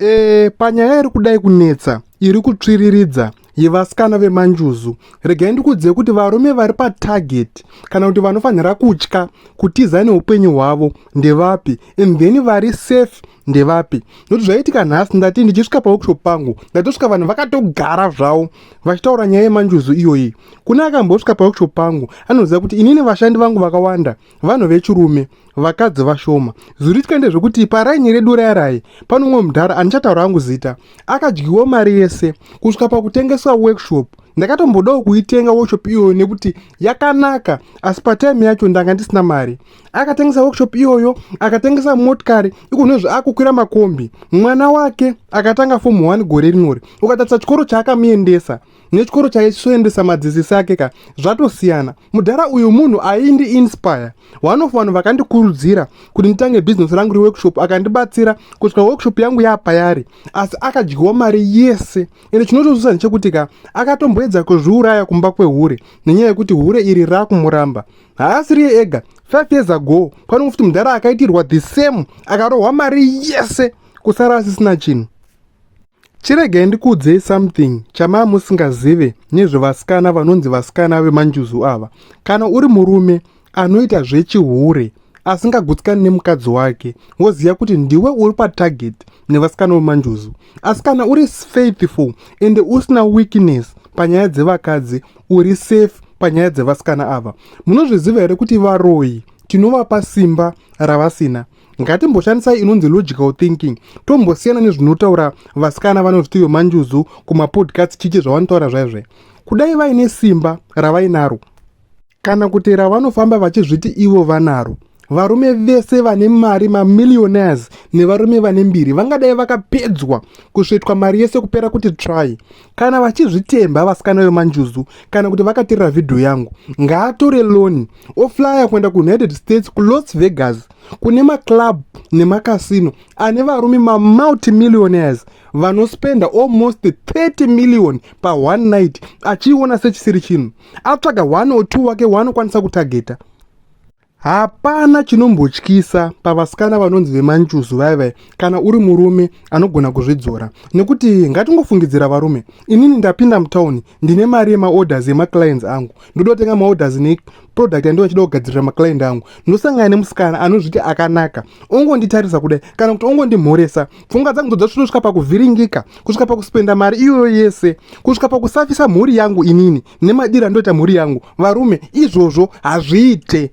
Eeh panyaya iri kudai kunetsa iri kutsviriridza yevasikana vemanjuzu regai ndikuudzei kuti varume vari patarget kana kuti vanofanira kutya kutiza neupenyu hwavo ndevapi and then vari safe ndevapi nokuti zvaiitika nhasi ndati ndichisvika paworkshop pangu ndatosvika vanhu vakatogara zvavo vachitaura nyaya yemanjuzu iyoyi kune akambosvika paworkshop pangu anoziva kuti inini vashandi vangu vakawanda vanhu vechirume vakadzi vashoma zuri tikaende zvekuti paraini redu rayarayi pano umwe mudhara andichataura angu zita akadyiwo mari yese kusvika pakutengeswa workshop ndakatombodawo kuitenga workshop iyoyo nekuti yakanaka asi patime yacho ndanga ndisina mari akatengesa workshop iyoyo akatengesa motikari ikunozve akukwira makombi mwana wake akatanga fomu 1 gore rinori ukatatisa chikoro chaakamuendesa aka nechikoro chaisoendesa madzisisi ake ka zvatosiyana mudhara uyu munhu aindi inspire one of vanhu vakandikurudzira kuti nditange bhizinesi rangu reworkshop akandibatsira kusvika workshop yangu yapayari asi akadyiwa mari yese ende chinotozusa ndechekuti ka akatomboedza kuzviuraya kumba kwehure nenyaya yekuti hure iri rakumuramba haasiriye ega five years ago panongo futi mudhara akaitirwa the same akarohwa mari yese kusara asisina chinhu Chiregei ndikuudzei something chamaa musingazive nezvevasikana vanonzi vasikana vemanjuzu ava. Kana uri murume anoita zvechihure asingagutsikani nemukadzi wake woziva kuti ndiwe uri patarget nevasikana vemanjuzu. Asi kana uri faithful ende usina weakness panyaya dzevakadzi uri safe panyaya dzevasikana ava. Munozviziva here kuti varoyi tinovapa simba ravasina? ngatimboshandisai inonzi logical thinking tombosiyana nezvinotaura vasikana vanozviti yomanjuzu kumapodcast chichi zvavanotaura zvaizve kudai vaine simba ravainaro kana kuti ravanofamba vachizviti ivo vanaro varume vese vane mari mamillionaires nevarume vane mbiri vangadai vakapedzwa kusvetwa mari yese kupera kuti try kana vachizvitemba vasikana vemanjuzu kana kuti vakaterera vhidhiyo yangu ngaatore loni oflya kuenda kuunited states kulos vegas kune maclub nemacasino ane varume mamultimillionaires vanospenda almost 30 million paone night achiiona sechisiri chinhu atsvaga one or two wake waanokwanisa kutageta Hapana chinombotyisa pavasikana vanonzi vemanjuzu vaya vaya kana uri murume anogona kuzvidzora nekuti ngatingofungidzira varume inini ndapinda mutauni ndine mari yemaorders emaclients angu ndoda kutenga maorders neproduct yandinga chida kugadzirira maclient angu ndosangana nemusikana anozviti akanaka ongonditarisa kudai kana kuti ongondimhoresa pfungwa dzangu dzodzasvitosvika pakuvhiringika kusvika pakuspenda mari iyoyo yese kusvika pakusafisa mhuri yangu inini nemadiro andoita mhuri yangu varume izvozvo hazviite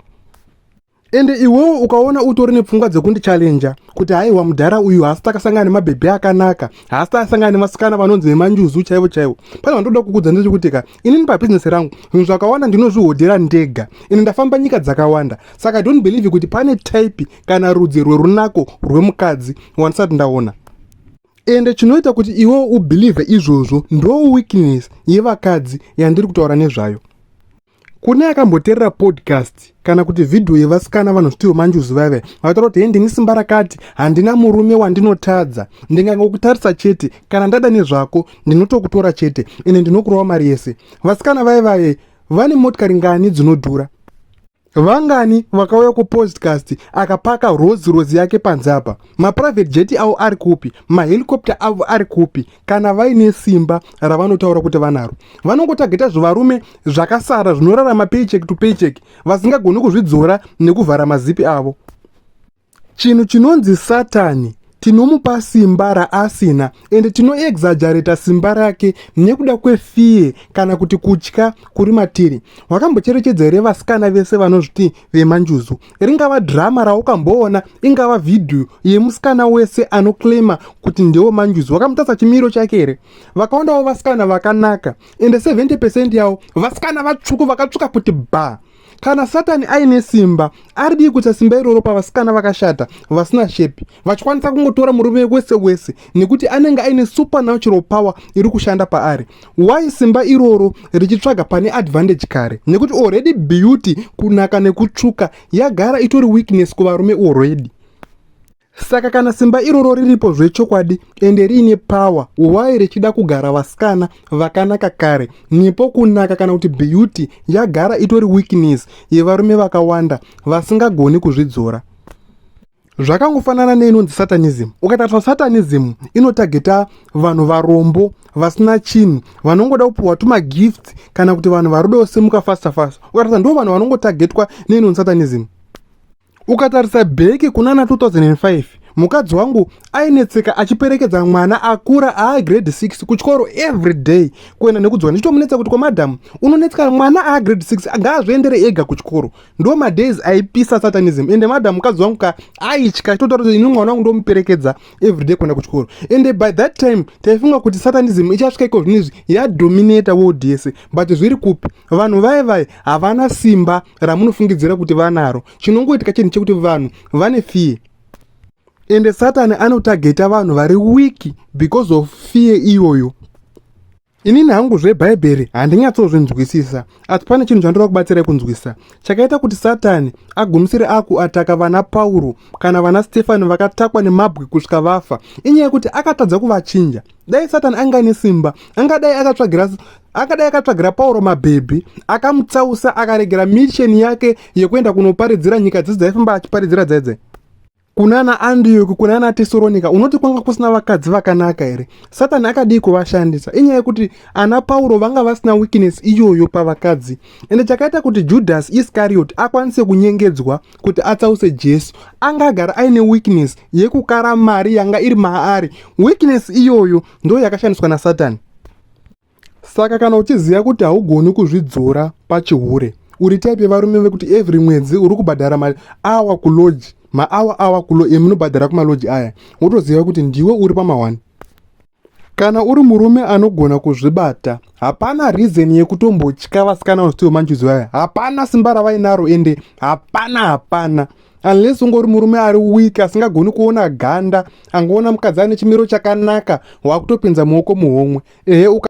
ende iwewo ukaona utori nepfungwa dzekundichallenja kuti haiwa mudhara uyu haasi takasangana nemabhebhi akanaka haasi takasangana nemasikana vanonzi vemanjuzu chaivo chaivo pane vandoda kukudza ndezvekuti ka inini pabhizinesi rangu zvinhu zvakawanda ndinozvihodhera ndega ini ndafamba nyika dzakawanda saka don't believe kuti pane type kana rudzi rwerunako rwemukadzi wandisati ndaona ende chinoita kuti iwewo ubhilivhe izvozvo ndo weakness yevakadzi yandiri kutaura nezvayo kune akamboterera podcast kana kuti vhidhiyo yevasikana vanozvitiwo manjuzi vaive vataura kuti hei ndini simba rakati handina murume wandinotadza ndingangokutarisa chete kana ndada nezvako ndinotokutora chete ende ndinokurova mari yese vasikana vaivaye vane motikari ngani dzinodhura Vangani vakauya kupodcast akapaka Rolls Royce yake panze apa? Maprivate jet avo ari kupi? Mahelicopter avo ari kupi? Kana vaine simba ravanotaura kuti vanaro, vanongotageta zvivarume zvakasara zvinorarama paycheck to paycheck vasingagoni kuzvidzora nekuvhara mazipi avo. Chinhu chinonzi Satani tinomupa simba raasina ende tinoexagerata simba rake nekuda kwefie kana kuti kutya kuri matiri wakambocherechedza here vasikana vese vanozviti vemanjuzu ringava drama raukamboona ingava vhidhiyo yemusikana wese anoclaima kuti ndewo manjuzu wakamutasa chimiro chake here vakaondawo vasikana vakanaka ende 70 pecent yavo vasikana vatsvuku vakatsvuka kuti bhaa kana satani aine simba aridii kuita simba iroro pavasikana vakashata vasina shepi vachikwanisa kungotora murume wese wese nekuti anenge aine supernatural power iri kushanda paari why simba iroro richitsvaga pane advantage kare nekuti already beauty kunaka nekutsvuka yagara itori weakness kuvarume already saka kana simba iroro riripo zvechokwadi ende riine power why richida kugara vasikana vakanaka kare nepo kunaka kana kuti beauty yagara itori weakness yevarume vakawanda vasingagoni kuzvidzora zvakangofanana neinonzi satanism ukatariswa satanism inotageta vanhu varombo vasina chinhu vanongoda kupiwa tumagifts kana kuti vanhu vari kuda kusimuka fasta fasta ukatariswa ndo vanhu vanongotagetwa neinonzi satanism ukatarisa bheki kunana 2005 mukadzi wangu ainetseka achiperekedza mwana akura aagrade 6 kuchikoro every day kuenda nekudzwa ndichitomunetsa kuti kwamadhamu unonetseka mwana aagrade 6 ngaazviendere ega kuchikoro ndo madays aipisa satanism ende madhamu mukadzi wangu ka aitya chitotaura kuti ini mwana wangu ndomuperekedza every day kuenda kuchikoro ende by that time taifunga kuti satanism ichasvika iko zvinhu izvi yadominata world yese but zviri kupi vanhu vaye vaye havana simba ramunofungidzira kuti vanaro chinongoitika chinhu chekuti vanhu vane fear ende satani anotageta vanhu vari wiki because of fear iyoyo inini hangu zvebhaibheri handinyatsozvinzwisisa asi pane chinhu chandoda kubatsirai kunzwisisa chakaita kuti satani agumisire akuataka vana pauro kana vana stefani vakatakwa nemabwe kusvika vafa inyaya yekuti akatadza kuvachinja dai satani anga ane simba angadai akatsvagira akadai akatsvagira pauro mabhebhi akamutsausa akaregera misheni yake yekuenda kunoparidzira nyika dzese dzaifamba achiparidzira dzaidze kunana andiyoki kunana tesoronika unoti kwanga kusina vakadzi vakanaka here satani akadii kuvashandisa inyaya yekuti ana pauro vanga vasina weakness iyoyo pavakadzi ende chakaita kuti judhasi iscariot akwanise kunyengedzwa kuti atsause jesu anga agara aine weakness yekukara mari yanga iri maari weakness iyoyo ndo yakashandiswa nasatani saka kana uchiziva kuti haugoni kuzvidzora pachihure uri type yevarume vekuti every mwedzi uri kubhadhara mari awa kuloji maawa awa kulo emunobhadhara kumaloji aya wotoziva kuti ndiwe uri pamawani Kana uri murume anogona kuzvibata, hapana reason yekutombotya vasikana vanostiwo manjuzi vaya. Hapana simba ravainaro ende hapana hapana. Unless ungori murume ari weak asingagoni kuona ganda, angoona mukadzi ane chimiro chakanaka wakutopinza muoko muhomwe. Ehe uka